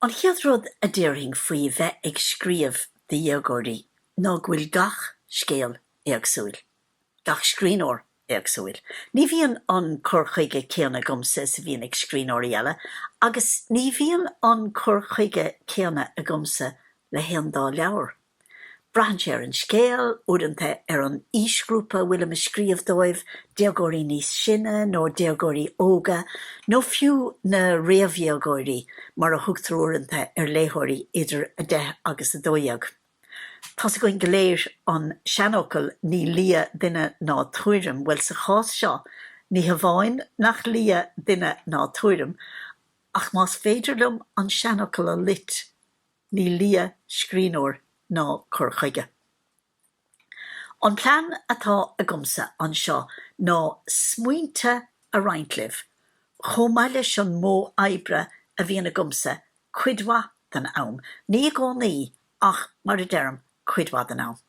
An chéad rud a déarfainn faoi bheith ag scríobh do dhéagóirí ná go bhfuil gach scéal éagsúil, gach scríbhneoir éagsúil. Ní bhíonn an cur chuige céanna agamsa is a bhíonn ag scríbhneoirí eile, agus ní bhíonn an cur chuige céanna agamsa le haon dá leabhar. Braitheann sé ar an scéal, uaireanta ar an aoisghrúpa a bhfuilim ag scríobh dóibh, déagóirí níos sine nó déagóirí óga, nó fiú na réamhdhéagóirí mar a thugtar uaireanta ar léitheoirí idir a 10 agus a 12. Tá's againn go léir an seanfhocal ní lia duine ná tuairim, bhuel sa chás seo ní hamháin nach lia duine ná tuairim ach más féidir liom an seanfhocal a loit, Ní lia scríbhneoir ná cur chuige. An plean atá agamsa anseo ná smaointe a roinnt libh, chomh maith leis an modh oibre a bhíonn agamsa cuid mhaith den am, ní i gcónaí, ach mar a deirim, cuid mhaith den am.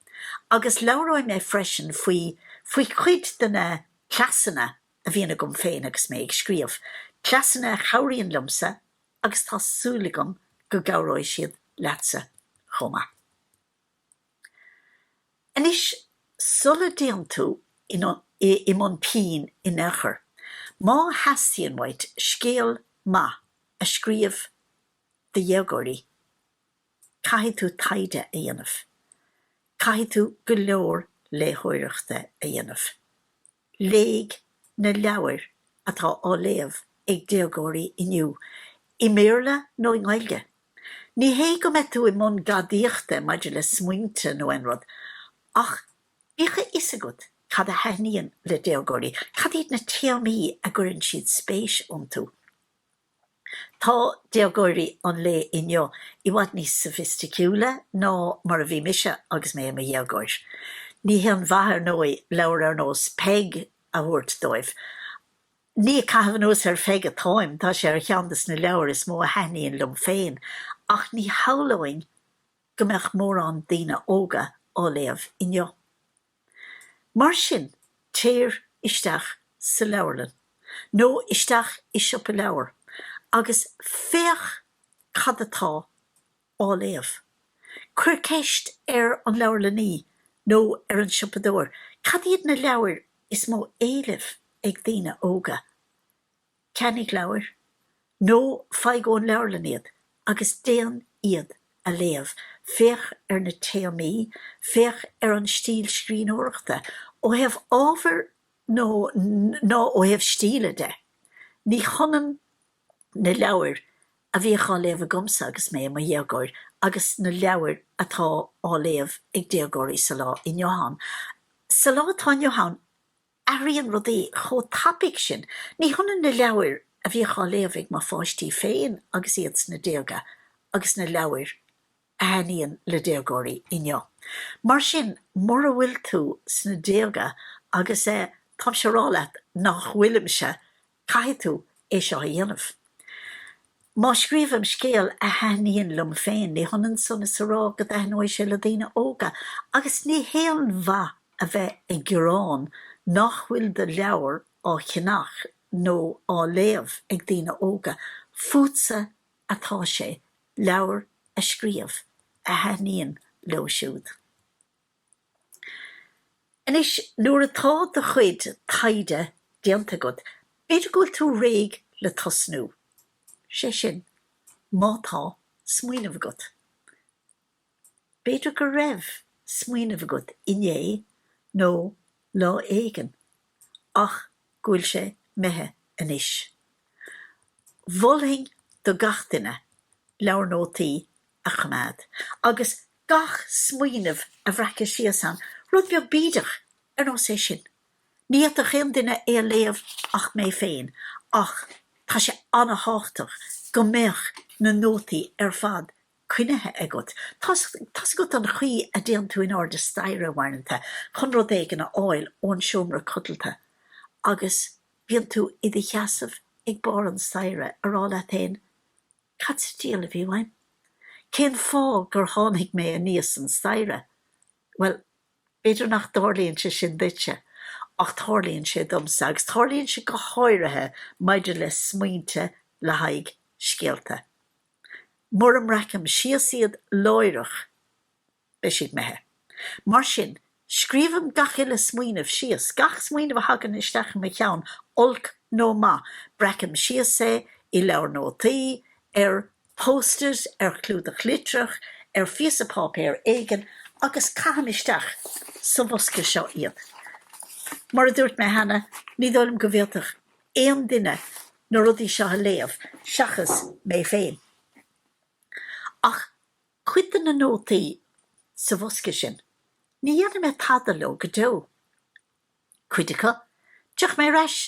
Agus labhróidh mé freisin faoi, faoi chuid de na cleasanna a bhíonn agam féin agus mé ag scríobh, cleasanna a chabhraíonn liomsa, agus tá súil agam go gcabhróidh siad leatsa chomh maith. Anois, sula dtéann tú i mbun pinn in aon chor, má theastaíonn uait scéal maith a scríobh do dhéagóirí, caithfidh tú taighde a dhéanamh. Caithfidh tú go leor léitheoireachta a dhéanamh. Léigh na leabhair atá á léamh ag déagóirí inniu, i mBéarla nó i nGaeilge. Ní hé go mbeadh tú i mbun gadaíochta maidir le smaointe nó aon rud, ach bíodh a fhios agat cad a thaitníonn le déagóirí, cad iad na téamaí a gcuireann siad spéis iontu. Tá déagóirí an lae inniu i bhfad níos sofaisticiúla ná mar a bhí mise agus mé i mo dhéagóir. Ní haon mhaith, ar ndóigh, leabhar ar nós Peig a thabhairt dóibh. Ní ag caitheamh anuas ar Pheig atáim, tá sé ar cheann de na leabhair is mó a thaitníonn liom féin, ach ní shamhlóinn go mbeadh mórán daoine óga á léamh inniu. Mar sin, téir isteach sa leabharlann nó isteach i siopa leabhar agus féach cad atá á léamh. Cuir ceist ar an leabharlannaí nó ar an siopadóir cad iad na leabhair is mó éilimh ag daoine óga. Ceannaigh leabhair, nó faigh ón leabharlann iad, agus déan iad a léamh. Féach ar na téamaí, féach ar an stíl scríbhneoireachta, ó thaobh ábhair nó ná ó thaobh stíle de. Ní hionann na leabhair a bhíodh á léamh agamsa agus mé i mo dhéagóir agus na leabhair atá á léamh ag déagóirí sa lá inniu ann. Sa lá atá inniu ann. athraíonn rudaí chomh tapaidh sin. Ní hionann na leabhair a bhíodh á léamh ag mo pháistí féin agus iad sna déaga agus na leabhair a thaitníonn le déagóirí inniu. Mar sin, mura bhfuil tú sna déaga agus eh táimse ag rá leat nach bhfuilimse, Caithfidh tú é seo a dhéanamh. Má scríobhaim scéal a thaitníonn liom féin, ní hionann san is a rá go dtaitneoidh sé le daoine óga, agus ní haon mhaith a bheith ag gearán nach bhfuil do leabhar á cheannach nó á léamh ag daoine óga. Fútsa atá sé leabhair a scríobh a thaitníonn leo siúd. Anois nuair atá do chuid taighde déanta agat, b'fhéidir go bhfuil tú réidh le tosnú. Sé sin, má tá smaoineamh agat. B'fhéidir go raibh smaoineamh agat inné nó lá éigin, ach go bhfuil sé imithe anois. Mholfainn do gach duine leabhar nótaí a choimeád agus gach smaoineamh a bhreacadh síos ann, rud beag bídeach ar nós é sin. Ní fhéadfadh aon duine é a léamh ach mé féin ach tá sé ana-thábhachtach go mbeadh na nótaí ar fad coinnithe agat. Tá's agat an chaoi a dtéann tú in airde staighre uaireanta chun rud éigin a fháil ón seomra codalta agus bíonn tú i do sheasamh ag barr an staighre ag rá leat féin, Cad sa diabhal a bhí uaim? Cén fáth gur tháinig mé aníos an staighre? Bhuel, b'fhéidir nach dtarlaíonn sé sin duitse, ach tarlaíonn sé domsa, agus tarlaíonn sé go háirithe maidir le smaointe le haghaidh scéalta. Mura mbreacaim síos iad láithreach beidh siad imithe. Mar sin, scríobhaim gach uile smaoineamh síos, gach smaoineamh a thagann isteach i mo cheann, olc nó maith, breacaim síos é i leabhar nótaí, ar post-it, ar chlúdach litreach, ar phíosa páipéir éigin agus caithim isteach sa bhosca seo iad. Mar a dúirt mé cheana, ní dóigh liom go bhféadfadh aon duine na rudaí seo a léamh seachas mé féin. Ach cuid de na nótaí sa bhosca sin, ní dhéanfaidh mé tada leo go deo. Cuid acu, tiocfaidh mé ar ais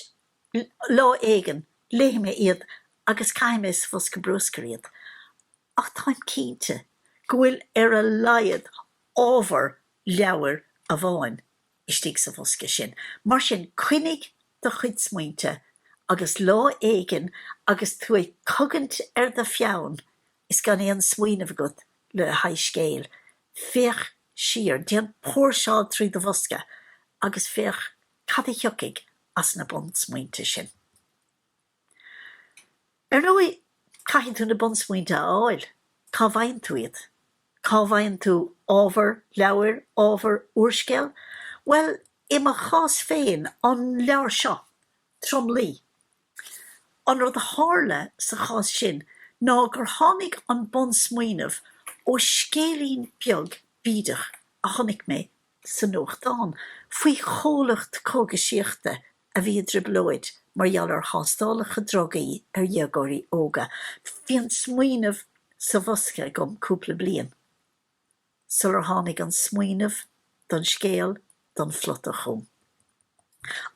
lá éigin, léifidh mé iad agus caithfidh mé sa bhosca bruscair iad. ach táim cinnte go bhfuil ar a laghad ábhar leabhair amháin istigh sa bhosca sin, mar sin coinnigh do chuid smaointe agus lá éigin agus tú ag cogaint ar do pheann is gan aon smaoineamh agat le haghaidh scéil, féach siar, déan póirseáil trí do bhosca agus féach cad a thiocfaidh as na bunsmaointe sin. Ar ndóigh, caithfidh tú na bunsmaointe a fháil. Cá bhfaigheann tú iad? Cá bhfaigheann tú ábhar leabhair, ábhar úrscéil? Bhuel, i mo chás féin, an leabhar seo, Tromluí. An rud a tharla sa chás sin ná gur tháinig an bunsmaoineamh ó scéilín beag bídeach a chonaic mé sa nuachtán faoi chomhlacht cógaisíochta a bhí i dtrioblóid mar gheall ar thástálacha drugaí ar dhéagóirí óga. Bhí an smaoineamh sa bhosca agam cúpla bliain sular tháinig an smaoineamh don scéal, don phlota chugam.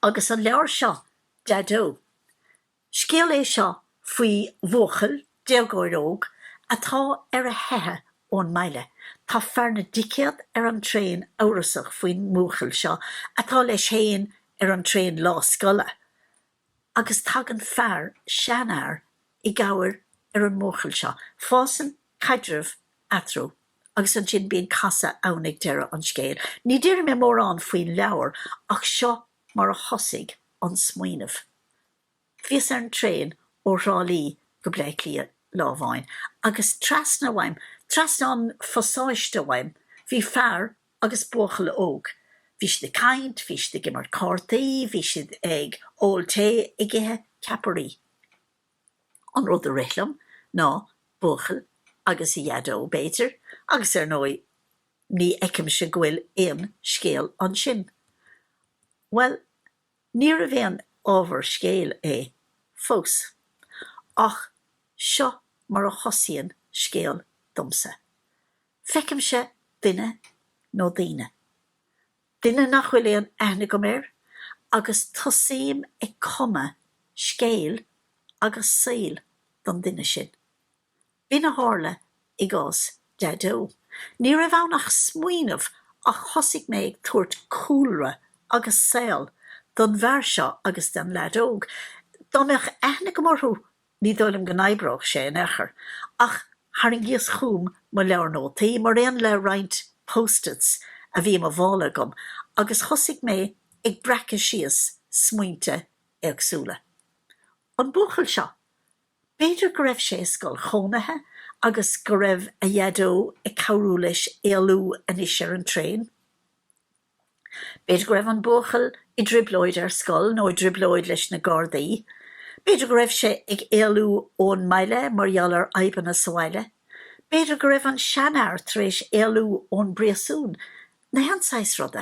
Agus an leabhar seo, Daideo! Scéal é seo faoi bhuachaill, déagóir óg, atá ar a theicheadh ón mbaile. Tá fear na dticéad ar an traein amhrasach faoin mbuachaill seo atá leis féin ar an traein lá scoile agus tagann fear, seanfhear, i gcabhair ar an mbuachaill seo. Fásann caidreamh eatarthu agus ansin bíonn casadh ann ag deireadh an scéil. Ní déarfaidh mé mórán faoin leabhar ach seo mar a thosaigh an smaoineamh. Bhíos ar an traein ó Thrá Lí go Bleá Cliath lá amháin agus trasna uaim, trasna an phasáiste uaim, bhí fear agus buachaill óg. Bhí siad ag caint, bhí siad ag imirt cártaí, bhí siad ag ól tae, ag ithe ceapairí. An rud a rith liom ná buachaill agus a dhaideo, b'fhéidir, agus ar ndóigh, Ní fheicimse go bhfuil aon scéal ansin. Bhuel, níorbh aon ábhar scéil é, fós. Ach seo mar a thosaíonn scéal domsa. Feicimse duine, nó daoine. Duine nach bhfuil aon aithne agam air, agus tosaím ag cumadh scéil agus saoil don duine sin. B'in a tharla i gcás Daideo. Ní raibh ann ach smaoineamh ach thosaigh mé ag tabhairt cúlra agus saol don bhfear seo agus don leaid óg. Dá mbeadh aithne agam orthu ní dóigh liom go n-oibreodh sé in aon chor. Ach tharraingíos chugam mo leabhar nótaí, mar aon le roinnt post-its a bhí i mo mhála agam, agus thosaigh mé ag breacadh síos smaointe éagsúla. An buachaill seo, b'fhéidir go raibh sé i scoil chónaithe agus go raibh a Dhaideo ag cabhrú leis éalú anois ar an traein. B'fhéidir go raibh an buachaill i dtrioblóid ar scoil nó i dtrioblóid leis na gardaí. B'fhéidir go raibh sé ag éalú ón mbaile mar gheall ar fhadhbanna sa bhaile. B'fhéidir go raibh an seanfhear tar éis éalú ón bpríosún Nó aon saghas ruda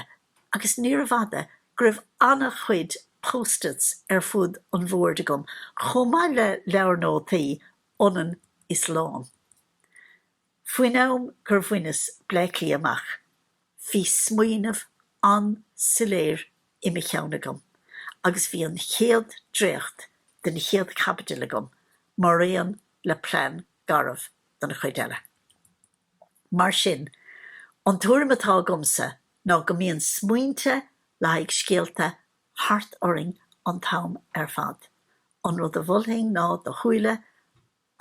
agus níorbh fhada go raibh an-chuid post-its ar fud an bhoird agam chomh maith le leabhar nótaí ionann's lán. Faoin am gur bhaineas Bleácliath amach bhí smaoineamh an-soiléir i mo cheann agam agus bhí an chéad dréacht den chéad chaibidil agam mar aon le plean garbh don chuid eile. Mar sin, an tuairim atá agamsa ná go mbíonn smaointe le haghaidh scéalta thart orainn an t-am ar fad. An rud a mholfainn ná do cheann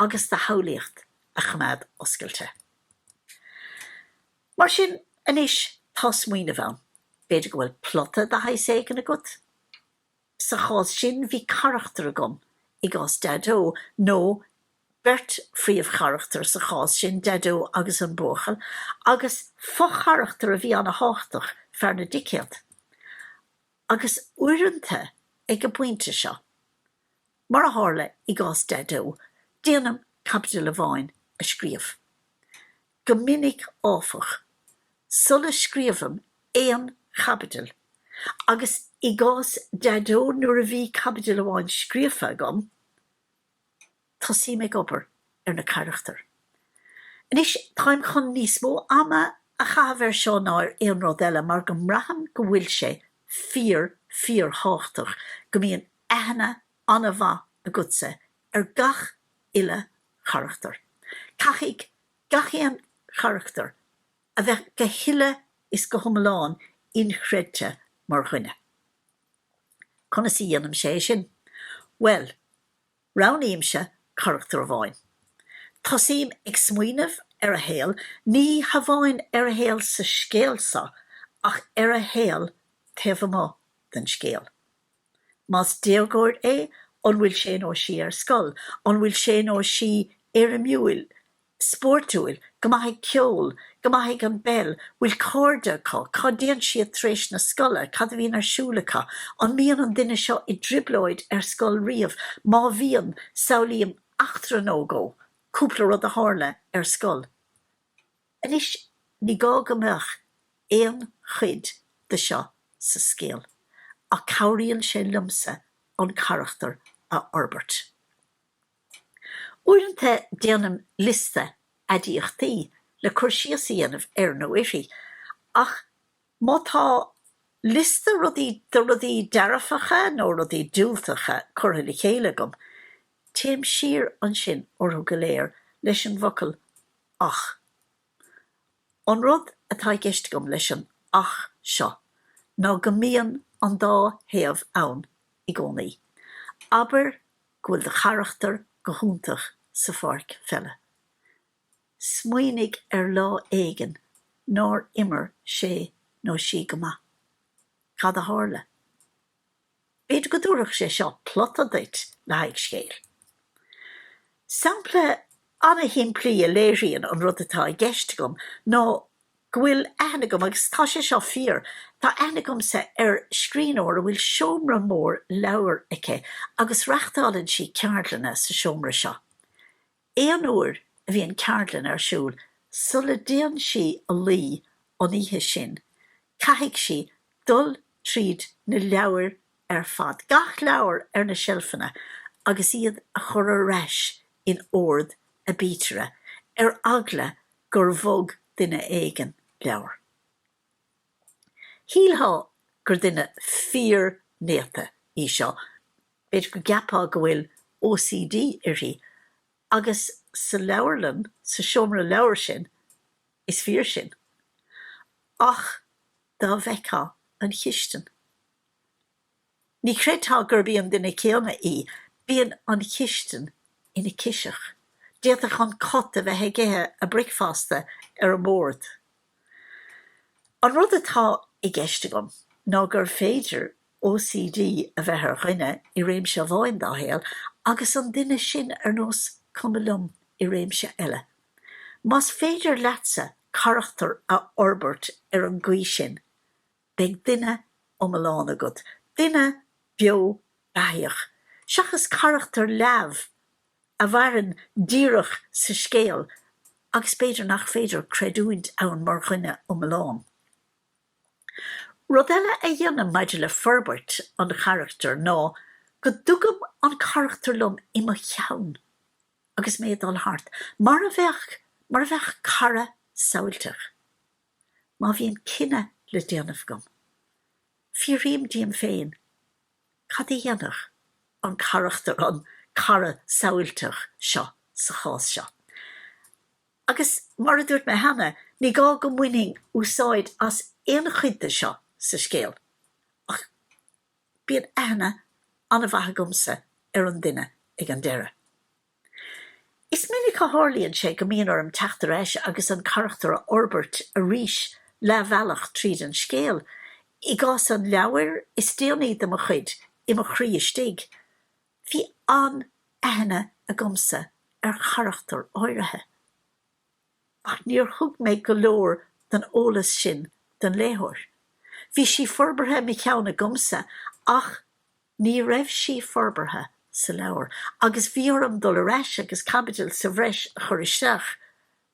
agus do shamhlaíocht a choimeád oscailte. Mar sin, anois tá smaoineamh ann. B'fhéidir go bhfuil plota de shaghas éigin agat? Sa chás sin bhí carachtar agam i gcás Daideo, nó beirt phríomhcharachtar sa chás sin, Daideo agus an buachaill, agus fo-charachtar a bhí ana-thábhachtach, fear na dticéad. Agus uaireanta ag an bpointe seo, mar a tharla i gcás Daideo, déanaim caibidil amháin a scríobh. Go minic áfach, sula scríobhaim aon chaibidil, agus i gcás Daideo nuair a bhí caibidil amháin scríofa agam, tosaím ag obair ar na carachtair. Anois táim chun níos mó ama a chaitheamh air seo ná ar aon rud eile mar go mbraithim go bhfuil sé fíor fíor thábhachtach go mbíonn aithne an-mhaith agatsa ar gach uile charachtar. Caithfidh gach aon charachtar a bheith go huile is go hiomlán inchreidte mar dhuine. Conas a dhéanaim é sin? Bhuel, roghnaímse carachtar amháin. Tosaím ag smaoineamh ar a shaol, ní hamháin ar a shaol sa scéal seo ach ar a shaol taobh amuigh den scéal. Más déagóir é, an bhfuil sé nó sí ar scoil? An bhfuil sé nó sí éirimiúil, spóirtiúil, go maith ag ceol, go maith ag an bpeil, bhfuil cairde acu, cá dtéann siad tar éis na scoile, cad a bhíonn ar siúl acu, an mbíonn an duine seo i dtrioblóid ar scoil riamh, má bhíonn, samhlaím eachtra nó dhó, cúpla rud a tharla ar scoil. Anois ní gá go mbeadh aon chuid de seo sa scéal ach cabhraíonn sé liomsa an carachtar a fhorbairt. Uaireanta déanaim liosta aidiachtaí le cur síos a dhéanamh air nó uirthi ach má tá liosta rudaí de rudaí dearfacha nó rudaí diúltacha curtha le chéile agam, téim siar ansin orthu go léir leis an bhfocal 'Ach. An rud atá i gceist agam leis an 'ach' seo ná go mbíonn an dá thaobh ann i gcónaí. Abair go bhfuil do charachtar go hiontach sa pháirc pheile. Smaoinigh ar lá éigin nár imir sé nó sí go maith. Cad a tharla? B'fhéidir go dtabharfadh sé seo plota duit le haghaidh scéal. Sampla an-shimplí a léiríonn an rud atá i gceist agam ná go bhfuil aithne agam, agus tá sé seo fíor, tá aithne agamsa ar scríbhneoir a bhfuil seomra mór leabhar aici agus reachtálann sí ceardlanna sa seomra seo. Aon uair a bhíonn ceardlann ar siúl sula dtéann sí a luí an oíche sin, caithfidh sí dul tríd na leabhar ar fad, gach leabhar ar na seilfeanna, agus iad a chur ar ais in ord aibítire, ar eagla gur bhog duine éigin leabhar. Shílfeá gur duine fíor néata í seo, b'fhéidir go gceapfá go bhfuil OCD uirthi, agus sa leabharlann, sa seomra leabhar sin, is fíor sin. Ach dá bhfeicfeá an chistin! Ní chreidfeá gurb í an duine céanna í. Bíonn an chistin ina ciseach. D'fhéadfadh an cat a bheith ag ithe a bricfeasta ar an mbord. An rud atá i gceist agam ná gur féidir OCD a bheith ar dhuine i réimse amháin dá shaol agus an duine sin ar nós cuma liom i réimse eile. Más féidir leatsa carachtar a fhorbairt ar an gcaoi sin, Beidh duine iomlán agat, duine beo beathaíoch, seachas carachtar leamh a mhaireann díreach sa scéal agus b'fhéidir nach féidir creidiúint ann mar dhuine iomlán. Rud eile a dhéanaim maidir le forbairt an charachtair ná go dtugaim an carachtar liom i mo cheann agus mé ag dul thart, mar a bheadh cara samhailteach. má bhíonn cinneadh le déanamh agam, fiafraím díom féin cad é a dhéanfadh an carachtar, an cara samhailteach seo sa chás seo. Agus mar a dúirt mé cheana, ní gá go mbainfinn úsáid as aon chuid de seo sa scéal, ach bíonn aithne an-mhaith agamsa ar an duine ag an deireadh. Is minic a tharlaíonn sé go mbíonn orm teacht ar ais agus an carachtar a fhorbairt arís leath bhealach tríd an scéal. I gcás an leabhair is déanaí de mo chuid, I Mo Chroí Istigh, bhí an-aithne agamsa ar charachtar áirithe, ach níor thug mé go leor den eolas sin don léitheoir. Bhí sí forbartha i mo cheann agamsa ach. Ní raibh sí forbartha sa leabhar agus bhí orm dul ar ais agus caibidil sa bhreis a chur isteach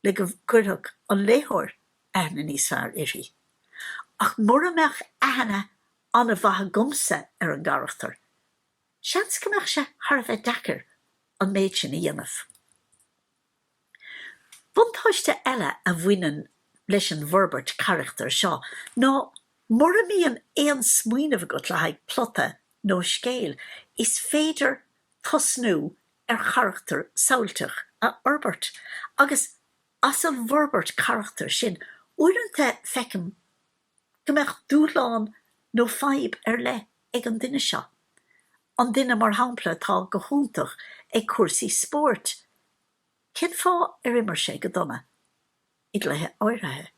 le go gcuirfeadh an léitheoir aithne níos fearr uirthi. Ach mura mbeadh aithne an-mhaith agamsa ar an gcarachtar, seans go mbeadh sé thar a bheith deacair an méid sin a dhéanamh. Buntáiste eile a bhaineann leis an bhforbairt carachtair seo ná mura mbíonn aon smaoineamh agat le haghaidh plota nó scéil, is féidir tosnú ar charachtar samhailteach a fhorbairt. Agus as an bhforbairt carachtair sin, uaireanta feicim go mbeadh dúshlán nó fadhb ar leith ag an duine seo, an duine mar shampla atá go hiontach ag cúrsaí spóirt, cén fáth ar imir sé go dona i gcluiche áirithe?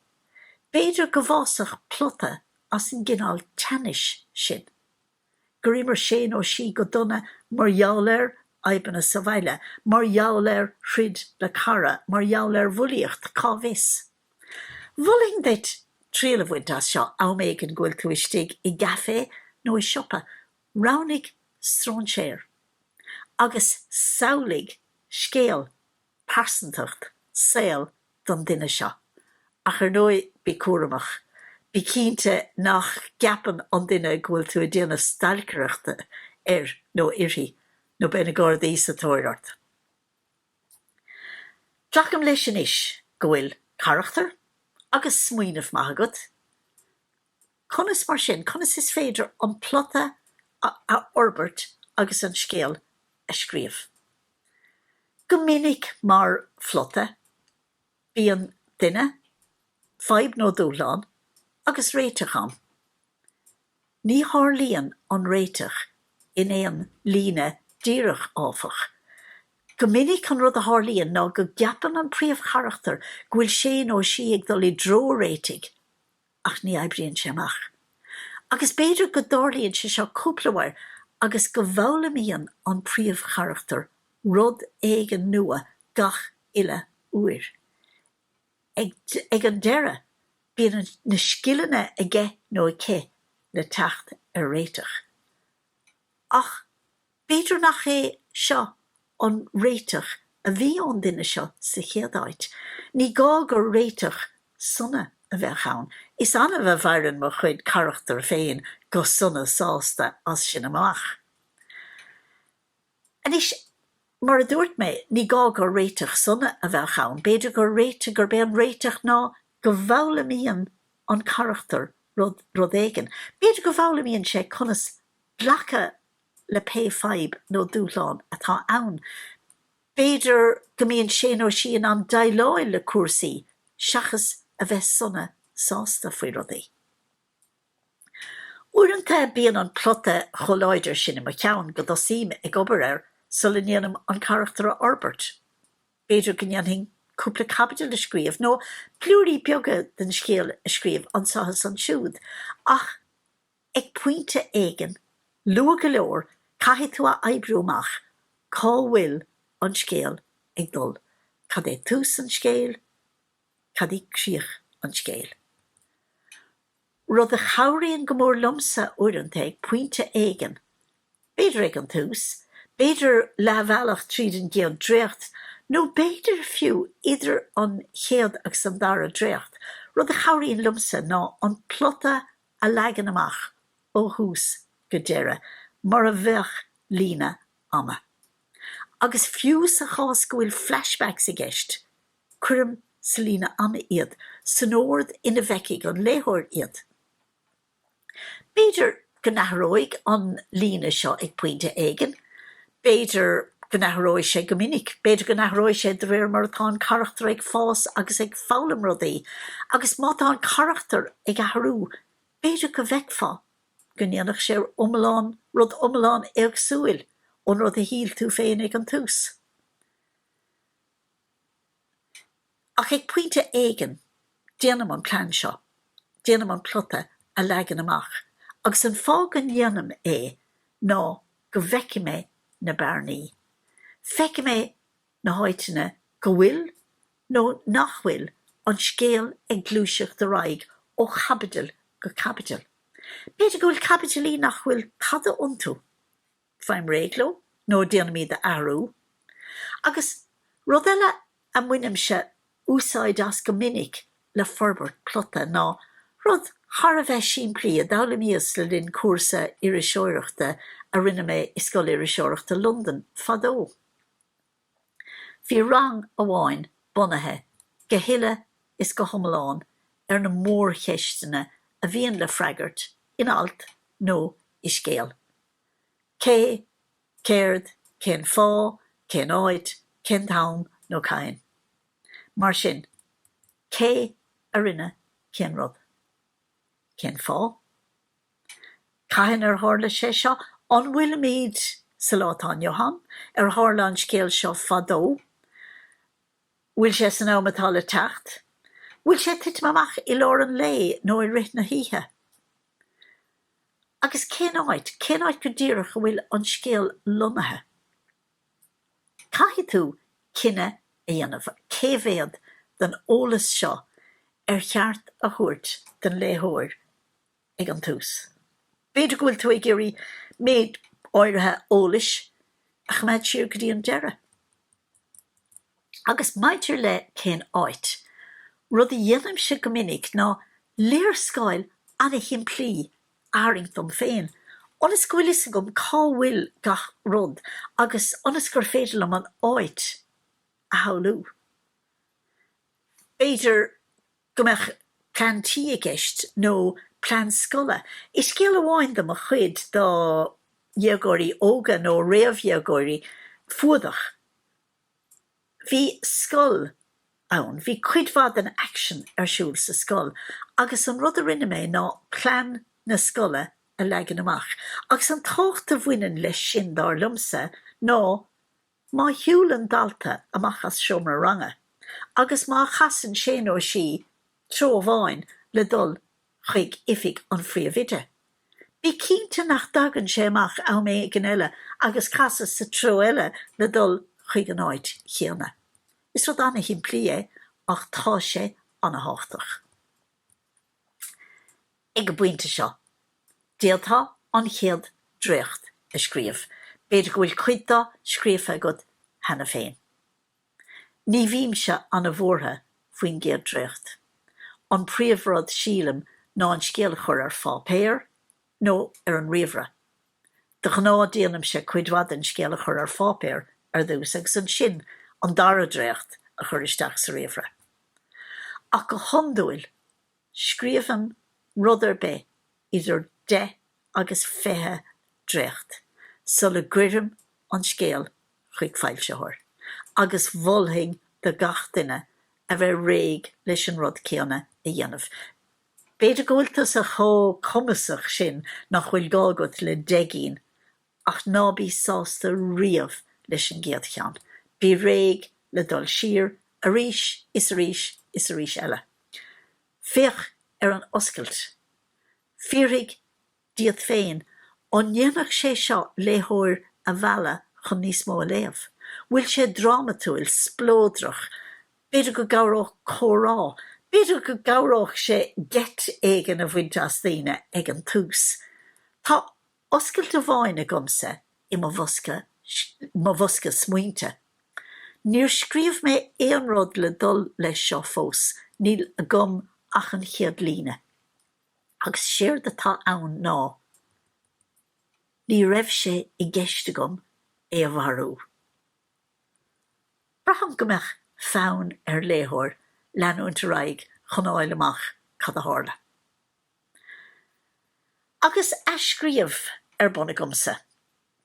B'fhéidir go bhfásfadh plota as an gcineál teannais sin. gur imir sé nó sí go dona mar gheall ar fhadhbanna sa bhaile, mar gheall ar throid le cara, mar gheall ar bhulaíocht, cá bhfios? Mholfainn duit triail a bhaint as seo am éigin go bhfuil tú istigh i gcaife nó i siopa, roghnaigh stróinséir agus samhlaigh scéal pearsantacht saol don duine seo. Ach ar ndóigh, bí cúramach. Bí cinnte nach gceapann an duine go bhfuil tú ag déanamh stailceireachta air nó uirthi, nó beidh na Gardaí sa tóir ort. Glacaim leis anois go bhfuil carachtar agus smaoineamh maith agat. Conas, mar sin, conas is féidir an plota a fhorbairt agus an scéal a scríobh? Go minic mar phlota bíonn duine, fadhb nó dúshlán agus réiteach ann. Ní tharlaíonn an réiteach in aon líne díreach, áfach. Go minic an rud a tharlaíonn ná go gceapann an príomhcharachtar go bhfuil sé nó sí ag dul i dtreo réitigh, ach ní oibríonn sé amach. Agus b'fhéidir go dtarlaíonn sé seo cúpla uair agus go bhfoghlaimíonn an príomhcharachtar rud éigin nua gach uile uair. Ag an deireadh bíonn na scileanna aige nó aici le teacht ar réiteach. Ach. B'fhéidir nach é seo an réiteach a bhí ón duine seo sa chéad áit. Ní gá gur réiteach sona a bheadh ann. Is annamh a mhaireann mo chuid carachtar féin go sona sásta as sin amach. Anois, mar a dúirt mé, ní gá gur réiteach sona a bheadh ann. B'fhéidir gur réiteach, gurb é an réiteach ná go bhfoghlaimíonn an carachtar rud éigin. B'fhéidir go bhfoghlaimíonn sé conas glacadh le pé fadhb nó dúshlán atá ann. B'fhéidir go mbíonn sé nó sí in ann deighleáil le cúrsaí seachas a bheith sona sásta faoi rudaí. Uaireanta bíonn an plota chomh láidir sin i mo cheann go dtosaím ag obair air sula ndéanaim an carachtar a fhorbairt. B'fhéidir go ndéanfainn cúpla caibidil a scríobh, nó blúirí beaga den scéal a scríobh anseo is ansiúd, ach, Ag pointe éigin, luath go leor, caithfidh tú a oibriú amach cá bhfuil an scéal ag dul, cad é tús an scéal, cad é críoch an scéal. Rud a chabhraíonn go mór liomsa uaireanta, ag pointe éigin, b'fhéidir ag an tús, b'fhéidir leathbhealach tríd an gcéad dréacht, nó b'fhéidir fiú idir an chéad agus an dara dréacht, rud a chabhraíonn liomsa ná an plota a leagan amach ó thús go deireadh mar a bheadh líne ama. Agus fiú sa chás go bhfuil flashbacks i gceist, cuirim sa líne ama iad, san ord ina bhfeicfidh an léitheoir iad. B'fhéidir go n-athróidh an líne seo ag pointe éigin, b'fhéidir go n-athróidh sé go minic, b'fhéidir go n-athróidh sé de réir mar atá an carachtar ag fás agus ag foghlaim rudaí agus má tá an carachtar ag athrú b'fhéidir go bhfeicfeá go ndéanfadh sé iomlán, rud iomlán éagsúil ón rud a shíl tú féin ag an tús. Ach ag pointe éigin déanaim an plean seo, déanaim an plota a leagan amach agus an fáth go ndéanaim é ná go bhfeicfidh mé na bearnaí. Feicfidh mé na háiteanna go bhfuil nó nach bhfuil an scéal ag gluaiseacht ar aghaidh ó chaibidil go caibidil. B'fhéidir go bhfuil caibidilí nach bhfuil tada iontu. Faighim réidh leo nó déanaim iad a athrú. Agus rud eile a mbainimse úsáid as go minic le forbairt plota ná rud thar a bheith simplí a d'fhoghlaimíos le linn cúrsa iriseoireachta a rinne mé i Scoil Iriseoireachta Londain fadó. Bhí rang amháin bunaithe go huile is go hiomlán ar na mórcheisteanna a bhíonn le freagairt in alt nó i scéal. Cé, céard, cén fáth, cén áit, cén t-am nó cathain. Mar sin, cé a rinne cén rud? Cén fáth? Cathain ar tharla sé seo? An bhfuilimid sa lá atá inniu ann? Ar tharla an scéal seo fadó? Bhfuil sé san am atá le teacht? Bhfuil sé ag titim amach i lár an lae nó i rith na hoíche? Agus cén áit, cén áit go díreach a bhfuil an scéal lonnaithe? Caithfidh tú cinneadh a dhéanamh cé mhéad den eolas seo ar cheart a thabhairt don léitheoir ag an tús. B'fhéidir go bhfuil tú ag iarraidh méid áirithe eolais a choimeád siar go dtí an deireadh. Agus maidir le cén áit, rud a dhéanaimse go minic ná léarscáil ana-shimplí a tharraingt dom féin, ionas go bhfuil fhios agam cá bhfuil gach rud agus ionas gur féidir liom an áit a shamhlú. B'fhéidir. go mbeadh plean tí i gceist nó plean scoile. I scéal amháin de mo chuid do dhéagóirí óga nó réamhdhéagóirí, Fuadach, bhí scoil ann, bhí cuid mhaith den aicsean ar siúl sa scoil agus an rud a rinne mé ná plean na scoile a leagan amach. Agus an tábhacht a bhaineann leis sin, dar liomsa, ná, Má shiúlann dalta amach as seomra ranga agus má chasann sé nó sí treo amháin le dul chuig oifig an phríomhoide, bí cinnte nach dtagann sé amach am éigin eile agus casadh sa treo eile le dul chuig an áit chéanna. Is rud ana-shimplí é ach tá sé ana-thábhachtach. Ag an bpointe seo, d'fhéadfá an chéad dréacht a scríobh. B'fhéidir go bhfuil cuid de scríofa agat cheana féin. Ní bhímse an-bhuartha faoin gcéad dréacht. An príomhrud, sílim, ná an scéal a chur ar pháipéar nó ar an ríomhaire. De ghnáth déanaimse cuid mhaith den scéal a chur ar pháipéar ar dtús agus ansin an dara dréacht a chur isteach sa ríomhaire. Ach go hiondúil scríobhaim rud ar bith idir deich agus fiche dréacht sula gcuirim an scéal chuig foilsitheoir agus mholfainn do gach duine a bheith réidh leis an rud céanna a dhéanamh. B'fhéidir go bhfuil tusa chomh cumasach sin nach bhfuil gá agat le deich gcinn ach ná bí sásta riamh leis an gcéad cheann. Bí réidh le dul siar arís is arís is arís eile. Féach ar an oscailt. Fiafraigh díot féin, an ndéanfadh sé seo léitheoir a mhealladh chun níos mó a léamh? Bhfuil sé drámatúil, spleodrach? B'fhéidir go gcabhródh comhrá. B'fhéidir go gcabhródh sé geit éigin a bhaint as daoine ag an tús. Tá oscailt amháin agamsa i mo bhosca smaointe. Níor scríobh mé aon rud le dul leis seo fós, níl agam ach an chéad líne. agus séard atá ann ná ní raibh sé i gceist agam é a mharú. Braithim go mbeadh fonn ar léitheoir leanúint ar aghaidh chun a fháil amach cad a tharla. Agus athscríobh ar bun agamsa,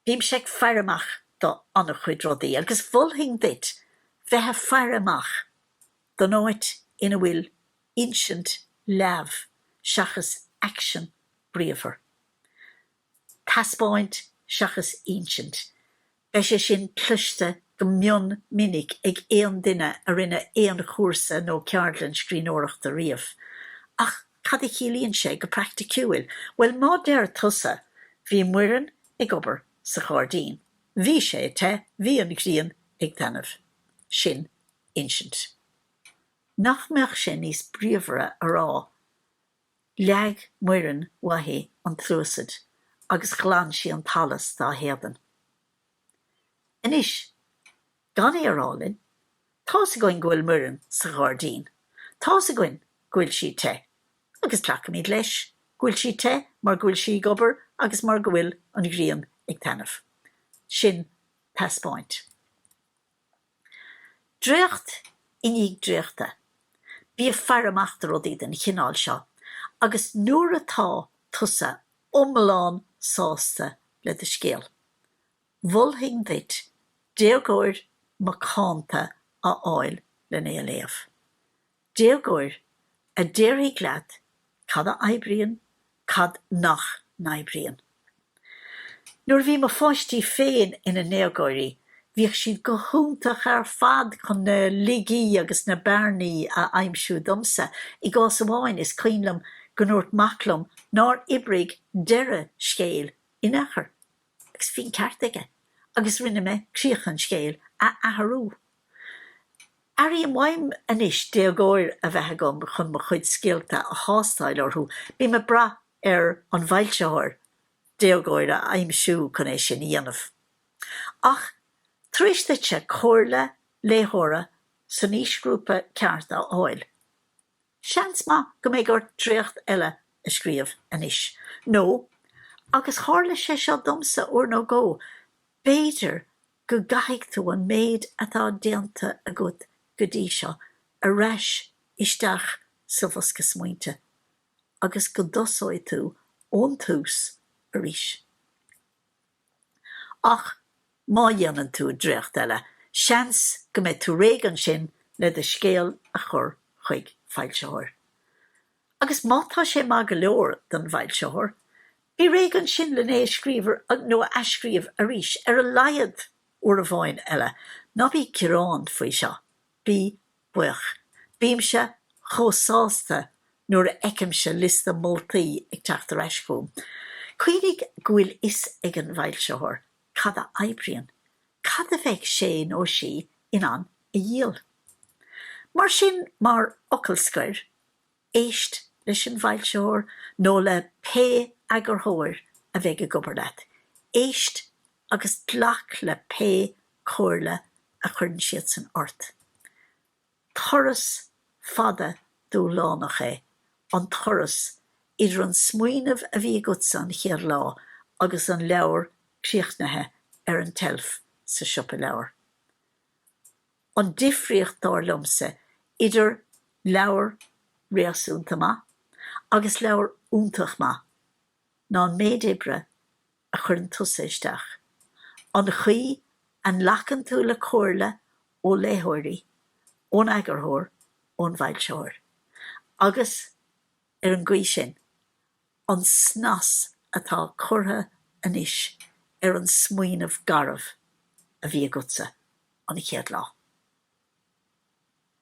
bímse ag faire amach do an-chuid rudaí agus mholfainn duit bheith ag faire amach don áit ina bhfuil insint leamh seachas aicsean bríomhar, taispeáint seachas insint, beidh sé sin cloiste go mion minic ag aon duine a rinne aon chúrsa nó ceardlann scríbhneoireachta riamh. Ach cad a chiallaíonn sé go praicticiúil? Bhuel, má deir tusa, Bhí Muireann ag obair sa ghairdín. Bhí sé te. Bhí an ghrian ag taitneamh. Sin insint. Nach mbeadh sé níos bríomhara a rá Leag Muireann uaithi an tsluasaid agus ghlan sí an t-allas dá héadan? Anois, gan é a rá linn, tá's againn go bhfuil Muireann sa ghairdín. Tá's againn go bhfuil sí te. Agus glacaimid leis go bhfuil sí te mar go bhfuil sí ag obair agus mar go bhfuil an ghrian ag taitneamh. Sin taispeáint. Dréacht i ndiaidh dréachta, bí ag faire amach do rudaí den chineál seo agus nuair atá tusa iomlán sásta le do scéal, mholfainn duit déagóir macánta a fháil lena léamh. Déagóir, a déarfaidh leat cad a oibríonn, cad nach n-oibríonn. Nuair a bhí mo pháistí féin ina ndéagóirí, bhíodh siad go hiontach ar fad chun na laigí agus na bearnaí a aimsiú domsa. I gcás amháin, is cuimhin liom go ndúirt mac liom nár oibrigh deireadh scéil in aon chor. Agus bhí an ceart aige agus rinne mé críoch an scéil a athrú. Airím uaim anois déagóir a bheith agam chun mo chuid scéalta a thástáil orthu, bím ag brath ar an bhfoilsitheoir déagóir a aimsiú chun é sin a dhéanamh. Ach tar éis duitse comhairle léitheora san aoisghrúpa ceart a fháil, Seans maith go mbeidh ort dréacht eile a scríobh anois nó, agus tharla sé seo domsa uair nó dhó, b'fhéidir go gcaithfidh tú an méid atá déanta agat go dtí seo ar ais isteach sa bhosca smaointe agus go dtosóidh tú ón tús arís. ach má dhéanann tú dréacht eile, seans go mbeidh tú réidh ansin le do scéal a chur chuig foilsitheoir. Agus má tá sé maith go leor don bhfoilsitheoir, bí réidh ansin lena scríobh nó a athscríobh arís, ar a laghad uair amháin eile. Ná bí ag gearán faoi seo. Bí buíoch. Bímse chomh sásta nuair a fheicimse liosta moltaí ag teacht ar ais chugam. Cuimhnigh go bhfuil a fhios ag an bhfoilsitheoir cad a oibríonn, cad a bheidh sé nó sí in ann a dhíol. Mar sin, mar fhocal scoir, Éist leis an bhfoilsitheoir nó le pé eagarthóir a bheidh ag obair leat. Éist agus glac le pé comhairle a chuireann siadsan ort. Turas fada dúshlánach é an turas idir an smaoineamh a bhí agatsa an chéad lá agus an leabhar críochnaithe ar an tseilf sa siopa leabhar. An difríocht, dar liomsa, idir leabhar réasúnta maith agus leabhar iontach maith ná an méid oibre a chuireann tusa isteach, an chaoi a nglacann tú le comhairle ó léitheoirí, ón eagarthóir, ón bhfoilsitheoir. Agus ar an gcaoi sin, an snas atá curtha anois ar an smaoineamh garbh a bhí agatsa an chéad lá.